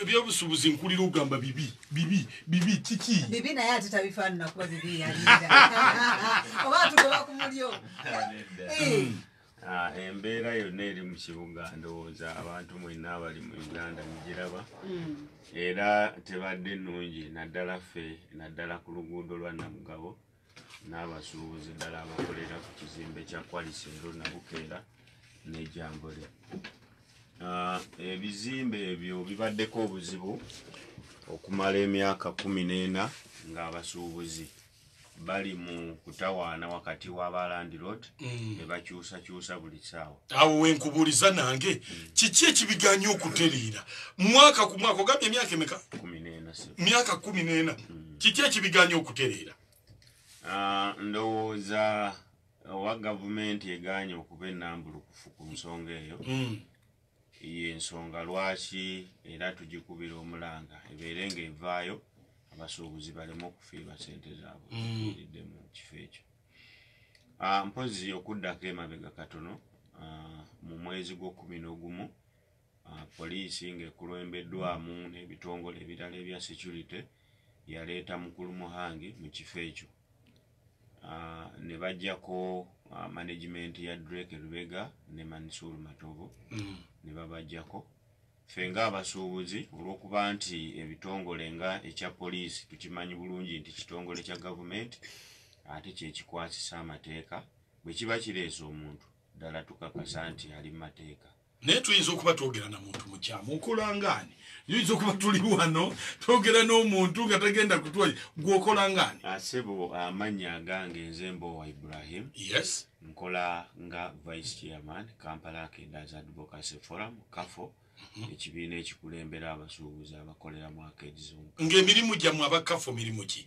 ebyobusubuzi nkulira ogamba bibi bibi bibi kiki bibi naye ate tabifaanana kuba bibi yalinda oba atugoba ku mulyo Ah, embeera yonna eri mu kibuga ndowooza abantu mwenna abali mu uganda mugiraba mm. era tebadde nnungi naddala ffe naddala ku luguudo lwa namugabo n'abasuubuzi ddala abakolera ku kizimbe kya kwalisi ero nabukeera nejambule ah, ebizimbe ebyo bibaddeko obuzibu okumala emyaka kumi n'ena ng'abasuubuzi bali mu kutawaana wakati w'abalandirod mm. ne bakyusakyusa buli ssaawa awo wenkubuuliza nange mm. kiki ekibiganya okutereera mwaka ku mwaka ogambye emyaka emeka myaka kumi n'ena mm. kiki ekibiganya okutereera ah, ndowooza owa gavumenti eganye okuba enambulukufu ku nsonga eyo hmm. yensonga lwaki era tugikubira omulanga ebeere nga evaayo abasuubuzi baleme okufiirwa sente zaabwe hmm. iridde mu kifo ekyo ah, mpozi okuddako emabega katono ah, mu mwezi gwokumi nogumu Poliisi ng'ekulembeddwamu n'ebitongole ebirala ebya securite yaleeta Mukulu Muhangi mu kifo ekyo ah, ne bajjako ah, management ya Drake Lubega ne Mansour Matobo mm. ne babajjako ffe ng'abasuubuzi olw'okuba nti ebitongole nga ekya poliisi tukimanyi bulungi nti kitongole kya gavumenti ate kyekikwasisa amateeka bwe kiba kireese omuntu ddala tukakasa nti ali mu mateeka naye tuyinza okuba twogera na muntu mukyamu okolangaani tuyinza okuba tuli wano twogera n'omuntu nga tagenda kutwali gweokolangaani asebo ah, amanya agange nze mbowa ibrahim yes nkola nga vice chairman kampala akedas advocacy forum kafo mhm. ekibiina ekikulembera abasuubuzi abakolera mu akedi zonka ng'emirimu gyammwe abakafo mirimu ki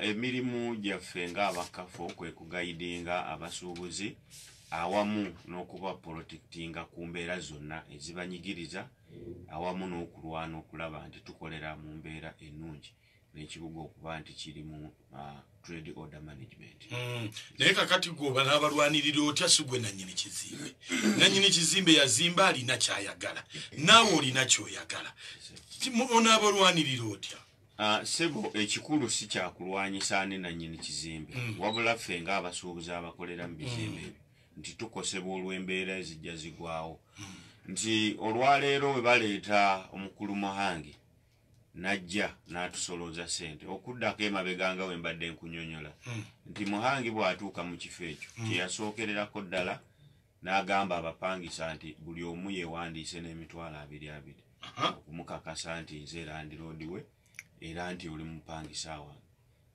Emirimu gyaffe ng'aba KAFO kwe kugayidinga abasuubuzi awamu n'okubapolotekitinga ku mbeera zonna ezibanyigiriza awamu n'okulwana okulaba nti tukolera mu mbeera ennungi n'ekibuga okuba nti kiri mu trade order management mm. naye kakati gwe oba n'abalwanirira otya si gwe nanyini kizimbe nanyini kizimbe yazimba alina kyayagala naawe olina kyoyagala onaabalwanirira otya Ah, sebo ekikulu si kyakulwanyisa ani nanyini kizimbe mm. wabula ffe nga abasuubuzi abakolera mu bizimbe mm. ebyo nti tukosebwa olw'embeera ezijja zigwawo mm. nti olwaleero we baleeta omukulu muhangi najja n'atusolooza sente okuddako emabega nga we mbadde nkunyonyola nti muhangi bw'atuuka mu kifo ekyo kyeyasookererako ddala N'agamba abapangisa nti buli omu yeewandiise n'emitwalo abiri abiri okumukakasa nti nze landiroodi we era nti oli mupangisa wange.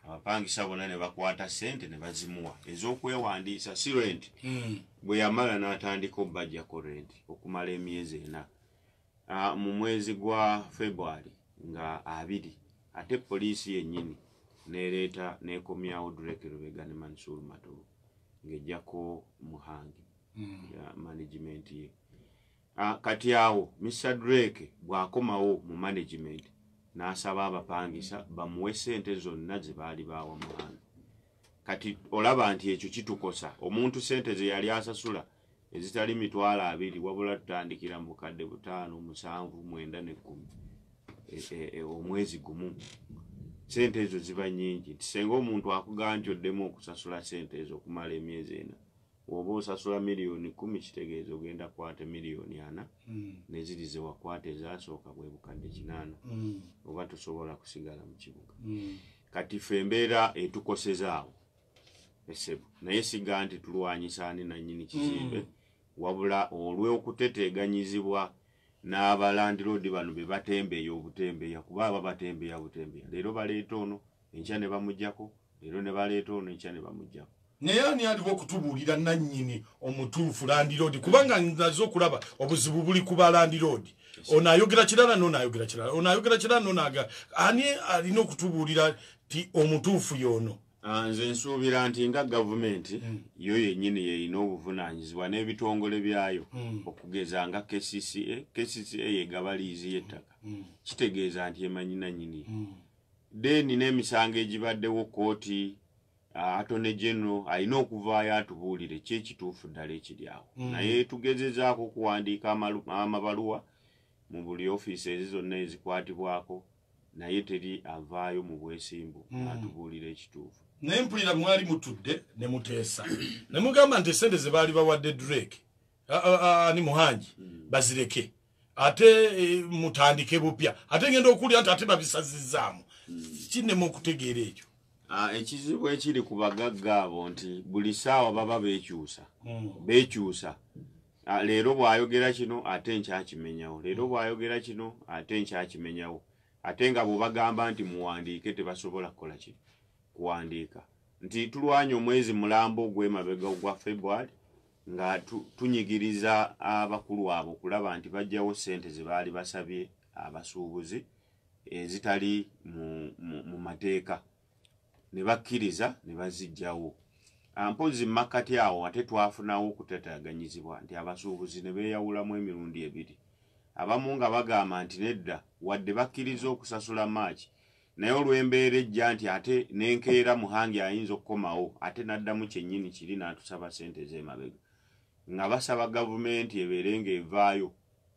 Abapangisa bonna ne bakwata ssente ne bazimuwa ez'okwewandiisa si renti. Hmm. Bwe yamala n'atandika obbajjako renti okumala emyezi ena. Ah, mu mwezi gwa February nga abiri ate poliisi yennyini neereeta neekomyawo Drake Lubega ne Mansour Matovu ng'ejjako Muhangi hmm. ya management ye ah, kati awo Mr Drake bw'akomawo mu management n'asaba abapangisa bamuwe ssente zonna ze baali baawa Muhangi kati olaba nti ekyo kitukosa omuntu ssente ze yali asasula ezitali mitwalo abiri wabula tutandikira mu bukadde butaano musanvu mwenda nekkumi e, e, e, omwezi gumu sente ezo ziba nyingi nti senga omuntu akugamba nti oddemu okusasula sente ezo okumala emyezi ena woba osasula miliyoni kumi kitegeeza ogenda kwata miliyoni ana hmm. neziri zewakwata ezasooka bwe bukadde kinaana hmm. oba tosobola kusigala mu kibuga hmm. kati fe embeera etukosezaawo esebo naye siga nti tulwanyisa ani nanyini kizimbe mm. wabula olw'okuteteeganyizibwa n'abalandiroodi bano be batembeeya obutembeeya kuba aba batembeeya butembeeya leero baleeta ono enkya ne bamugyako leero ne baleeta ono enkya ne bamugyako naye ani aliwo okutubuulira nannyini omutuufu landiroodi kubanga naze okulaba obuzibu buli ku balandiroodi ono ayogera kirala noono ayogera kirala ono ayogera kirala noono aga ani alina okutubuulira ti omutuufu yono ah, nze nsuubira nti nga gavumenti mm. yo yenyini yeyina obuvunanyizibwa n'ebitongole byayo mm. okugeza nga kcca kcca yegaba liizi y'ettaka mm. kitegeeza nti emanyi nanyini mm. then n'emisango egibaddewo kooti ah, atone genero alina okuvaayo atubuulire ki ekituufu ddala ekiri awo mm. naye tugezezaako okuwandiika amabaluwa mu buli ofiisi ezi zonna ezikwatibwako naye teri avaayo mu bwesimbu mm. atubuulira ekituufu naye mpulira mwali mutudde ne muteesa ne mugamba nti esente ze baali bawadde drake ani muhangi mm. bazireke ate e, mutandike bupya ate ngenda okuwulira nti ate babisazizaamu mm. kinema okutegeera ekyo Ah, ekizibu ekiri ku bagagga abo nti buli saawa baba bekyusa hmm. bekyusa Ah, leero bwayogera kino ate nkyakimenyawo leero mm. bwayogera kino ate nkyakimenyawo ate nga bwebagamba nti muwandiike tebasobola kukola ki kuwandiika nti tulwanya omwezi mulambo ogwemabega ogwa february nga tunyigiriza abakulu abo okulaba nti bajjawo sente zebaali basabye abasuubuzi ezitali mu mateeka ne bakkiriza ne bazijjawo ah, mpozzi mu makkati awo ate twafunawo okutataganyizibwa nti abasuubuzi ne beeyawulamu emirundi ebiri abamu nga bagamba nti nedda wadde bakkiriza okusasula maaki naye olw'embeera ejja nti ate nenkeera muhangi ayinza okukomawo ate n'addamu kyennyini kiri n'atusaba ssente z'emabega nga basaba gavumenti ebeere ng'evaayo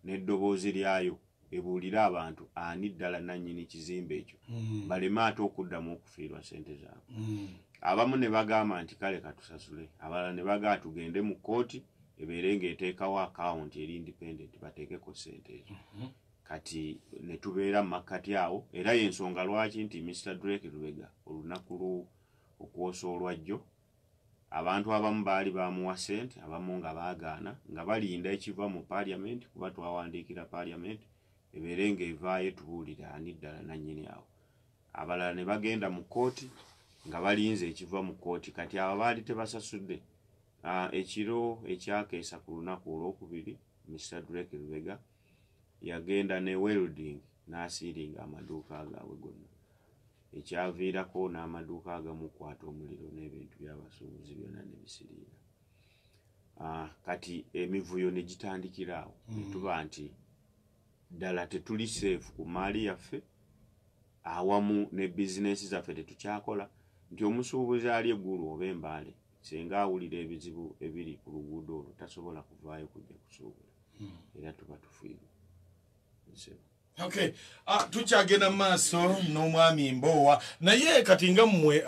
n'eddoboozi lyayo ebuulire abantu ani ddala nannyini kizimbe ekyo hmm. baleme ate okuddamu okufiirwa ssente zaabwe hmm. abamu ne bagamba nti kale katusasule abalala ne bagaa tugende mu kkooti ebeere ng'eteekawo akawunti eri independent bateekeko ssente ezo hmm. kati ne tubeera mu makkati awo era y'ensonga lwaki nti mr drake lubega olunaku lwo okwosa olwajjo Abantu abamu baali baamuwa ssente abamu nga baagaana nga balinda ekiva mu Parliament kuba twawandiikira Parliament ebeere ng'evaayo etubuulire ani ddala nnannyini awo. Abalala ne bagenda mu kkooti nga balinze ekiva mu kkooti kati abo abaali tebasasudde Ekiro ekyakeesa ku lunaku olwokubiri, Mister Drake Lubega yagenda ne welding n'asiiringa amaduuka gaabwe gonna ekyaviirako n'amaduuka agamukwata omuliro n'ebintu by'abasuubuzi byonna ne bisiriira ah, kati emivuyo ne gitandikira awo mm. ne tuba nti ddala tetuli seefu ku maali yaffe awamu ne bizinensi zaffe tetukyakola nti omusuubuzi ali eggulu oba embaale Ssenga awulira ebizibu ebiri ku luguudo olwo tasobola kuvaayo kujja kusuubula hmm. era tuba tufiirwa nsebo okay ah, tukyagenda mu maaso n'omwami mboowa naye kati nga mmwe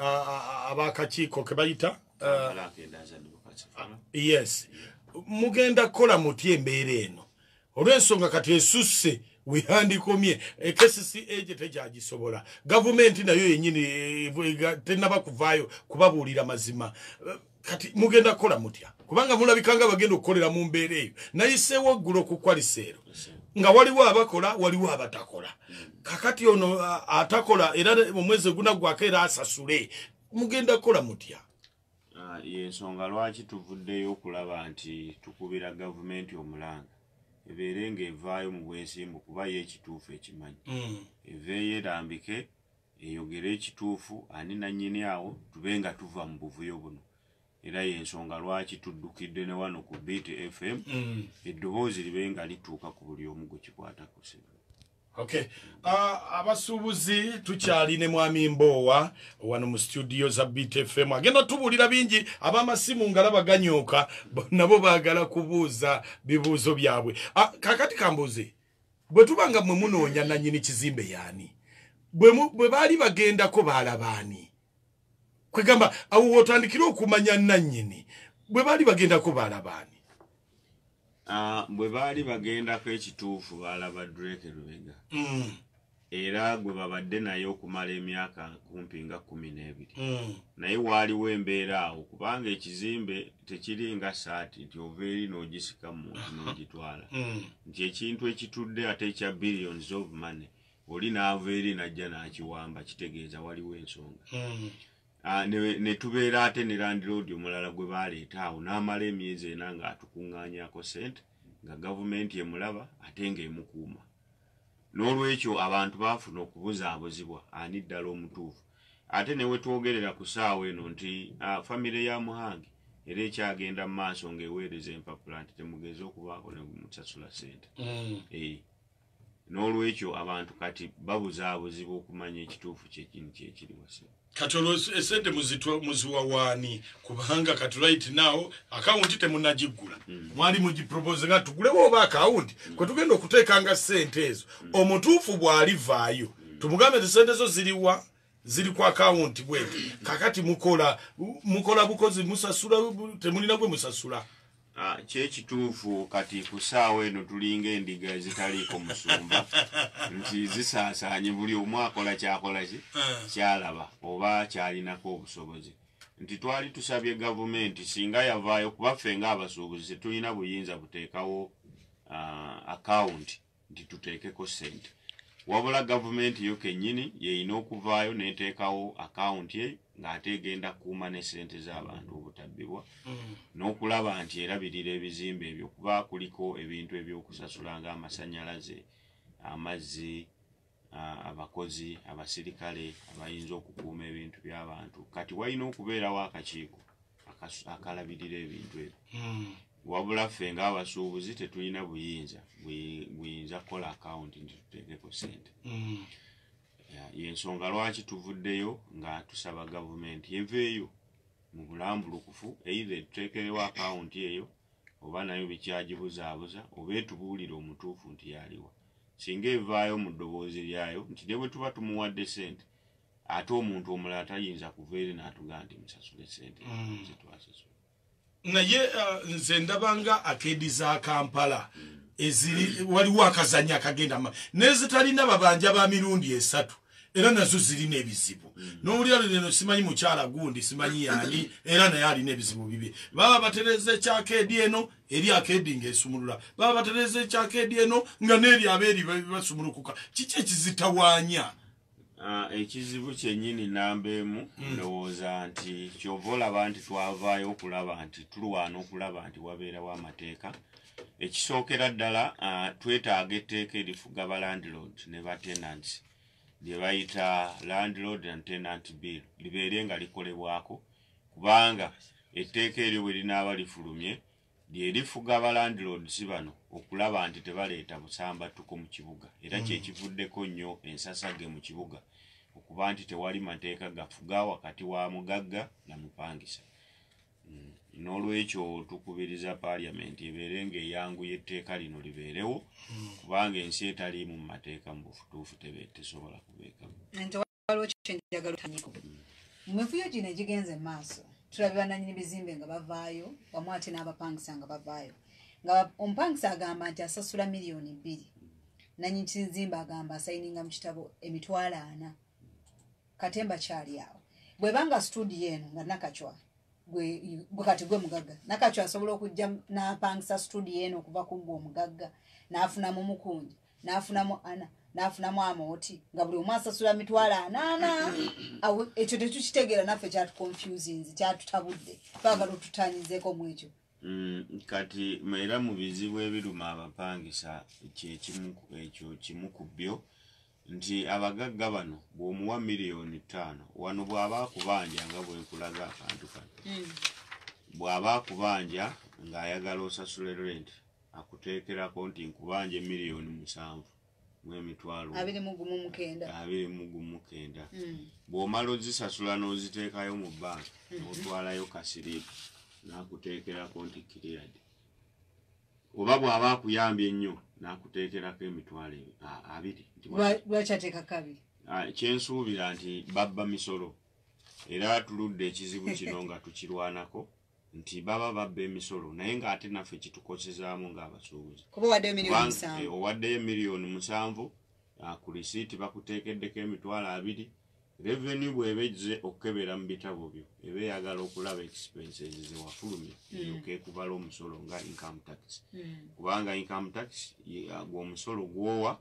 abakakiiko ke bayita ah, yes mugenda kukola mutya embeera eno olw'ensonga kati esusse wehandikomye ekcca eh, gye tekyagisobola gavumenti nayo yenyini eh, eh, tenaba kuvaayo kubabuulira mazima kati mugenda kukola mutya kubanga mulabikanga bagenda okukolera mu mbeera eyo nayiseewo oggulo okukwaliseero nga waliwo abakola waliwo abatakola kakati ono atakola era omwezi ogunaggwako era asasule mugenda kukola mutya Ah, yensonga lwaki tuvuddeyo okulaba nti tukubira gavumenti omulanga ebeere nga evaayo mu bwesimbu kuba ye ekituufu ekimanyi mm. eveeyo erambike eyogere ekituufu ani nanyini awo tube nga tuva mu buvuyo buno era yensonga lwaki tuddukidde ne wano ku bt fm mm. eddoboozi libe nga lituuka ku buli omu gwe kikwatako sebe Okay. Uh, abasuubuzi tukyali ne mwami mboowa wano mu studio za btfm agenda tubuulira bingi abamasimu ngalaba ganyooka nabo baagala kubuuza bibuuzo byabwe uh, kakati kambuuze bwe tuba nga mwe munoonya nanyini kizimbe yaani bwe baali bagendako baalabaani kwegamba awo wotandikire okumanya nanyini bwe baali bagendako baalabaani Ah, bwe baali bagendako ekituufu baalaba drake lubega mm. era gwe babadde naye okumala emyaka kumpi nga kumi n'ebiri mm. naye waaliwo embeera awo kubanga ekizimbe tekiri nga saati nti ova eri n'ogisika muntu n'ogitwala mm. nti ekintu ekitudde ate ekya billions of money oli n'ava eri n'ajja n'akiwamba kitegeeza waliwo ensonga Ah, ne tubeera ate ne landiroodi omulala gwe baaleeta awo n'amala emyezi ena ng'atukuŋŋaanyako ssente nga gavumenti emulaba ate ng'emukuuma n'olwekyo abantu baafuna okubuzaabuzibwa ani ddala omutuufu ate ne wetwogerera ku ssaawa eno nti ah, famire ya muhange era ekyagenda mu maaso ng'eweereza empapula nti temugeeza okubaako ne musasula ssente mm. eh. n'olwekyo abantu kati babuzaabuzibwa okumanya ekituufu kyekini kyekiri wasimu kati olwo esente muziwa waani kubanga kati right now akawunti temunagiggula hmm. mwali mugipropoze nga tugulewo oba akawunti hmm. kwe tugenda okuteekanga sente ezo hmm. omutuufu bw'alivaayo tumugambe ti sente zo ziriwa ziri ku akawunti bwenti kakati mukola mukola bukozi musasula temulina gwe musasula ah, kyekituufu kati ku saawa eno tulinga endiga ezitaliiko musumba nti zisaasaanye buli omu akola kyakola ki eh. kyalaba oba kyalinako obusobozi nti twali tusabye gavumenti singa yavaayo kubaffe ngaabasuubuzi tetulina buyinza buteekawo ah, akawunti uh, nti tuteekeko ssente wabula gavumenti yo kennyini yeyina okuvaayo neteekawo akawunti eyo ng'ate egenda kukuuma ne ssente z'abantu obutabbibwa mm. n'okulaba nti erabirira ebizimbe ebyo kuba kuliko ebintu ebyokusasula ng'amasannyalaze amazzi abakozi abasirikale abayinza okukuuma ebintu byabantu kati walina okubeerawo akakiiko akalabirira ebintu ebyo hmm. wabula ffe ngaabasuubuzi tetulina buyinza buyinza kukola akawunti nti tuteekeko sente hmm. yensonga lwaki tuvuddeyo nga tusaba gavumenti eveeyo mu bulambulukufu eithe etuteekerewo akawunti eyo oba nayo bikyagibuzaabuza oba etubuulire omutuufu nti yaliwa singa evaayo mu ddoboozi lyayo nti ne bwe tuba tumuwadde ssente ate omuntu omulala tayinza kuva eri n'atugamba nti musasule ssente mm. zetwasasula naye uh, nze ndabanga akeedi za kampala eziri waliwo akazanya akagenda ma nezitalina babanja ba mirundi esatu era nazo zirina ebizibu mm. nowulira lino simanyi mukyala gundi simanyi yani era naye alina ebizibu bibi baba batereza ekyakeedi eno eri akeedi nga esumulula baba batereza ekyakeedi eno nga neeri abeeri basumulukuka kiki ekizitawanya ah, ekizibu kyenyini namba emu hmm. ndowooza nti kyova olaba nti twavaayo okulaba nti tulwana okulaba nti wabeerawo amateeka ekisookera ddala ah, twetaaga etteeka erifuga balandlord ne batenant lyebayita landlord and tenant bill libeere nga likolebwako kubanga etteeka eryo bwe linaaba lifulumye lye lifuga abalandiloodisi bano okulaba nti tebaleeta busambattuko mu kibuga era kye mm. kivuddeko nnyo ensasage mu kibuga okuba nti tewali mateeka gafuga wakati wa mugagga na mupangisa mm. n'olwekyo tukubiriza paaliyamenti ebeere ng'eyanguya etteeka lino libeerewo mm. kubanga ensi etaliimu mu mateeka mu bufutuufu tesobola kubeekamu waliwo kyenjagala otanyeko mu mivuyo gino egigenze mu maaso tulabe bananyini bizimbe nga bavaayo wamu ate n'abapangisa nga bavaayo nga omupangisa agamba nti asasula miliyoni bbiri nanyi kizimba agamba asayininga mu kitabo emitwalo ana katemba kyali awo bwebanga studio eno nga nakacwa gwe kati gwe mugagga nakacwa asobola okujja napangisa studio eno okuva ku gwe omugagga nafunamu mukunja n'afunamu ana n'afunamu amooti nga buli omu asasula mitwalo anaana awo ekyo tetukitegeera naffe kyatukonfusinzi kyatutabudde twagala otutanyizeeko mu ekyo mm, kati era mu bizibu ebiruma abapangisa ekyo kimu ku byo nti abagagga bano bw'omuwa miliyoni ttaano wano bw'aba akubanja nga bwenkulaga akantu kano mm. bw'aba akubanja ng'ayagala osasule renti akuteekerako nti nkubanja emiliyoni musanvu mwemitwalo abiri mu gumu mukenda abiri mu gumu mukenda hmm. bw'omala ozisasula n'oziteekayo mu banka hmm. n'otwalayo kasiriipu n'akuteekerako nti kiriyadi oba bw'aba akuyambye ennyo n'akuteekerako emitwalo abiri lwaki ateekako abiri kyensuubira nti babba misolo era tuludde ekizibu kino nga tukirwanako nti baba babba emisolo naye nga ate naffe kitukosezaamu ng'abasuubuzi kuba owaddeyo miliyoni musanvu eh, owaddeyo miliyoni musanvu ah, ku lisiiti bakuteekeddeko emitwalo abiri reveni bw'eba ejze okukebera mu bitabo byo eba eyagala okulaba expenses zewafulumya eyoka mm. ekubala omusolo nga income tax mm. kubanga income tax ah, gwomusolo gwowa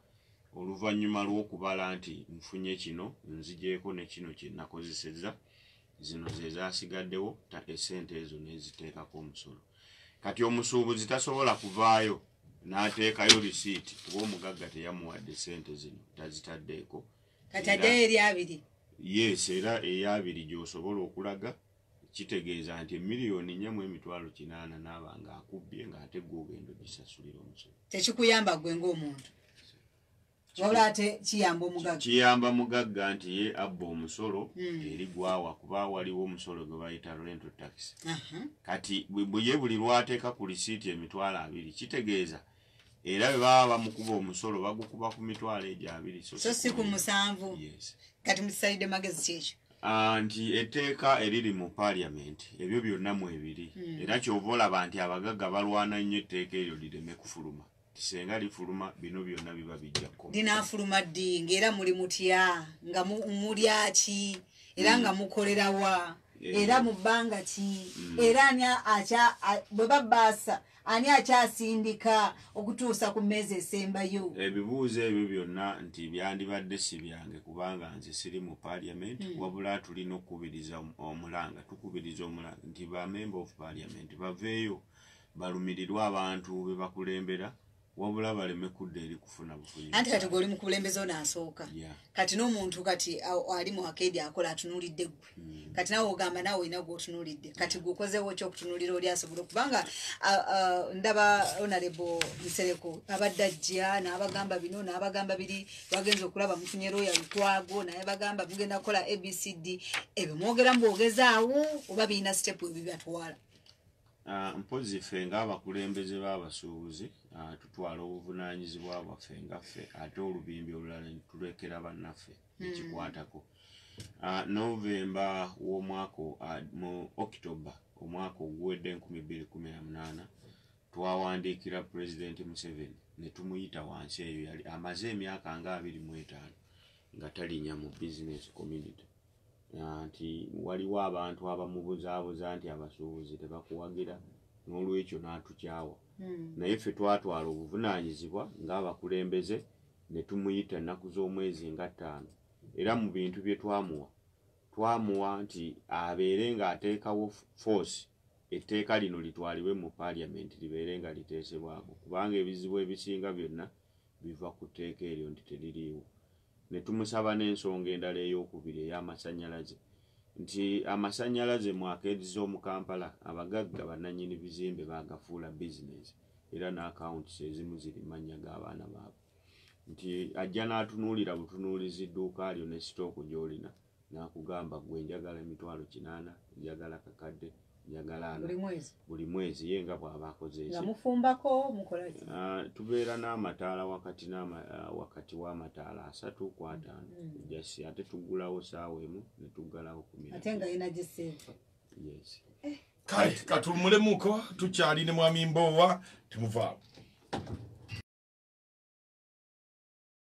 oluvannyuma lw'okubala nti nfunye kino nzigyeko ne kino kye nakozesezza zino ze zaasigaddewo ttaka essente ezo neziteekako omusolo kati omusuubuzi tasobola kuvaayo n'ateekayo lisiiti kuba omugagga teyamuwadde ssente zino tazitaddeeko kati addeyo eri abiri yes era eyabiri gy'osobola okulaga kitegeeza nti emiliyoni nya mu emitwalo kinaana naaba nga akubbye ng'ate gwe ogenda ogisasulira omusolo tekikuyamba gwe ng'omuntu wabula ate kiyamba omugagga kiyamba mugagga nti ye abba omusolo hmm. eri gwawa kuba waliwo omusolo gwe bayita rental tax kati bweye buli lwateeka ku lisiiti emitwalo abiri kitegeeza era bwe baba bamukuba omusolo bagukuba ku mitwalo egyo abiri so si ku musanvu kati mukisalidde magezi kyekyo ah, nti etteeka eriri mu parliament ebyo byonna mwebiri hmm. era kyova olaba nti abagagga balwana nnyo etteeka eryo lireme kufuluma senga lifuluma bino byonna biba bijja kukoma linaafuluma ddi ng'era muli mutya nga mulyaki era nga mm. mukolera wa eh. era mu bbanga ki mm. era ani akya bwe babaasa ani akyasindika okutuusa ku mmeezi esembayo ebibuuzo ebyo byonna nti byandibadde si byange kubanga nze siri mu parliament mm. wabula tulina okukubiriza omulanga tukubiriza omulanga nti bamember of parliament baveeyo balumirirwe abantu be bakulembera wabula baleme kudda eri kufuna bufunyi anti kati gwe oli mu kulembeza ono asooka kati n'omuntu kati ali mu akeedi akola atunuulidde ggwe hmm. kati nawe ogamba nawe olina gwotunuulidde kati gwe okozeewo ki okutunuulira oli asobola okubanga ndaba onarebo nsereko abadde ajja n'abagamba bino n'abagamba biri bagenza okulaba mufunye looya lukwago naye bagamba mugenda kukola abcd ebyo mwogera mu bwogezaawo oba birina sitepu ebibatwala Ah, mpozi ffe ng'abakulembeze b'abasuubuzi ah, tutwala obuvunaanyizibwa bwaffe nga ffe ate olubimbi olulala netulekera bannaffe hmm. ekikwatako ah, novemba w'omwaka mu october omwaka oguwedde 218 twawandiikira pulezidenti museveni ne tumuyita wansi eyo yali amaze emyaka nga 25 nga talinya mu business community ah, nti waliwo abantu abamubuzaabuza nti abasuubuzi tebakuwagira n'olwekyo n'atukyawa hmm. naye ffe twatwala obuvunaanyizibwa ng'abakulembeze ne tumuyita ennaku z'omwezi nga ttaano era mu bintu bye twamuwa twamuwa nti abeere ng'ateekawo foosi etteeka lino litwalibwe mu paaliyamenti libeere nga liteesebwako kubanga ebizibu ebisinga byonna biva ku tteeka eryo nti teririiwo ne tumusaba n'ensonga endala ey'okubiri ey'amasannyalaze nti amasannyalaze mu akeedi z'omu Kampala abagagga bannannyini bizimbe baagafuula bizinensi era n'akawunti ezimu ziri mu mannya g'abaana baabwe nti ajja n'atunuulira butunuulizi dduuka lyo ne sitooko gy'olina N'akugamba ggwe njagala emitwalo kinaana, njagala akakadde, njagala ana buli mwezi, ye nga bw'aba akoze eki. Nga mufumbako mukola ki? Ah, tubeera n'amataala wakati ah, wakati w'amataala asatu ku ataano. Mm. Just ate tuggulawo saawa emu ne tuggalawo ku mira. Ate nga yina giseeva. Yes. Eh. Kale katumulemuko tukyali ne mwami Mboowa temuvaawo.